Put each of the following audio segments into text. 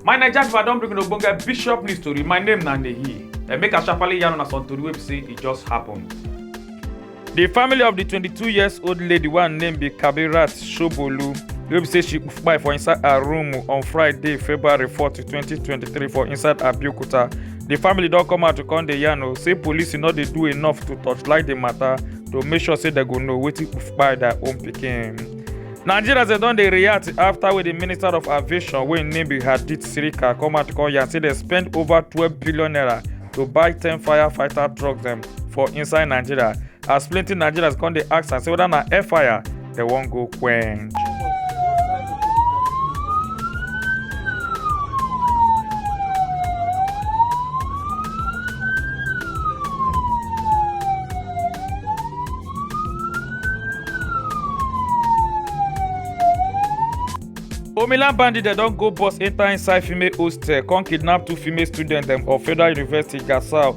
my naija pipo i don bring una ogbonge bishop news tori my name na nehi and make i sharparly yarn una some tori wey be say e just happen. di family of di 22 years old lady wey her name be kabirat shobolu wey be say she kpai for inside her room on friday february 4 2023 for inside abeokuta di family don come out to come dey yarn o say police no dey do enough to torchlight di matter to make sure say dem go know wetin kpai their own pikin. nigerians dem don dey react afta wey di minister of aviation wey im name be hadith sirika come out come yarn say dem spend over twelve billion naira to buy ten firefighter trucks dem for inside nigeria as plenty nigerians come dey ask am say whether na air fire they won't go quench. Omilan bandit dem don go bus enter inside female hostel come kidnap two female students dem of Federal University Gasau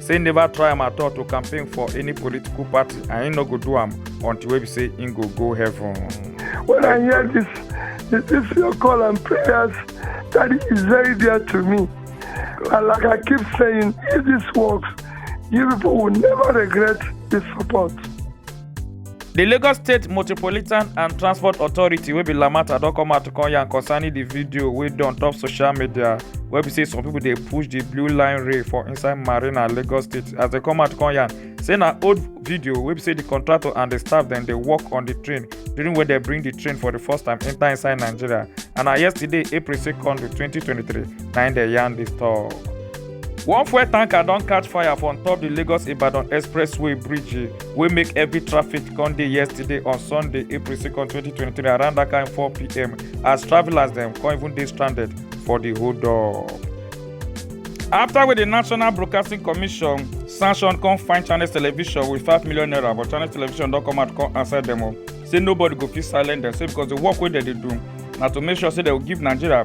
say im never try am at all to campaign for any political party and im no go do am until wey be say im go go heaven. when i hear this this, this your call and prayers daddy is very dear to me and like i keep saying if this works you people will never regret this support. di lagos state motropolitan and transport authority wey be lamata don come out to come yarn concerning di video wey dey on top social media wey be say some pipo dey push di blue line rail for inside marina lagos state as dem come out to come yarn say na old video wey be say di contractor and di staff dem dey work on di train during wey dem bring di train for di first time enta inside nigeria and na yesterday april 2nd 2023 na im dem yarn dis tok. one fuel tanker don catch fire for on top di lagos ibadan expressway bridge. wey make heavy traffic come dey yesterday on sunday april 2 2023 around dat kain 4pm as travellers dem come even dey stranded for di hold up. afta wey di national broadcasting commission sanction come find channels television wit 5 million naira but channels television don come out come answer dem o say nobody go fit silence dem say because di work wey dem dey do na to make sure say dem go give nigeria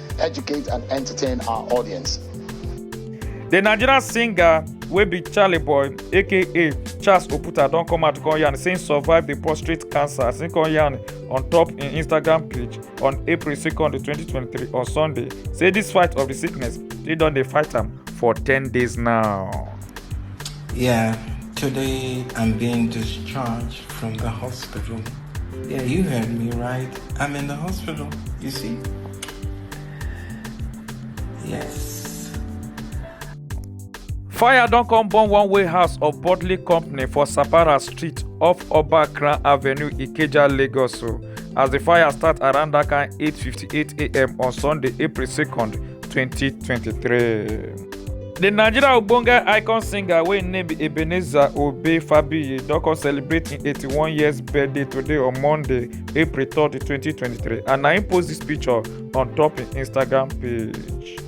educate and entertain our audience. The Nigerian singer wey be Charlie Boy aka Charles Oputa don come out come yarn say im survive the prostate cancer as im come yarn on top im Instagram page on April 2nd 2023 on Sunday say this fight of the sickness e don dey fight am for 10 days now. Yeah, today I'm being discharged from the hospital. Yeah, you heard me right. I'm in the hospital, you see? Yes. Fire don come burn one warehouse of Bodley Company for Sapara Street off Oba Kran Avenue, Ikeja, Lagos. o. As the fire start around that kind 8:58 a.m. on Sunday, April 2nd, 2023. The Nigeria Ogbonge icon singer wey im name be Ebenezer Obey Fabiyi don come celebrate im 81 years birthday today on Monday April 30, 2023, and I post this picture on top his Instagram page.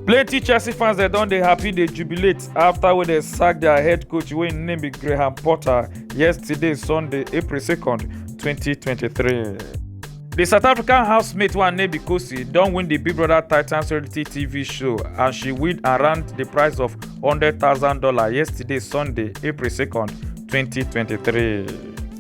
Plenty Chelsea fans they don't they happy they jubilate after when they sacked their head coach wey im name be Graham Potter yesterday Sunday April 2nd, 2023. The South African housemate one name be Kosi don win the Big Brother Titans reality TV show and she win around the price of $100,000 yesterday Sunday April 2nd, 2023.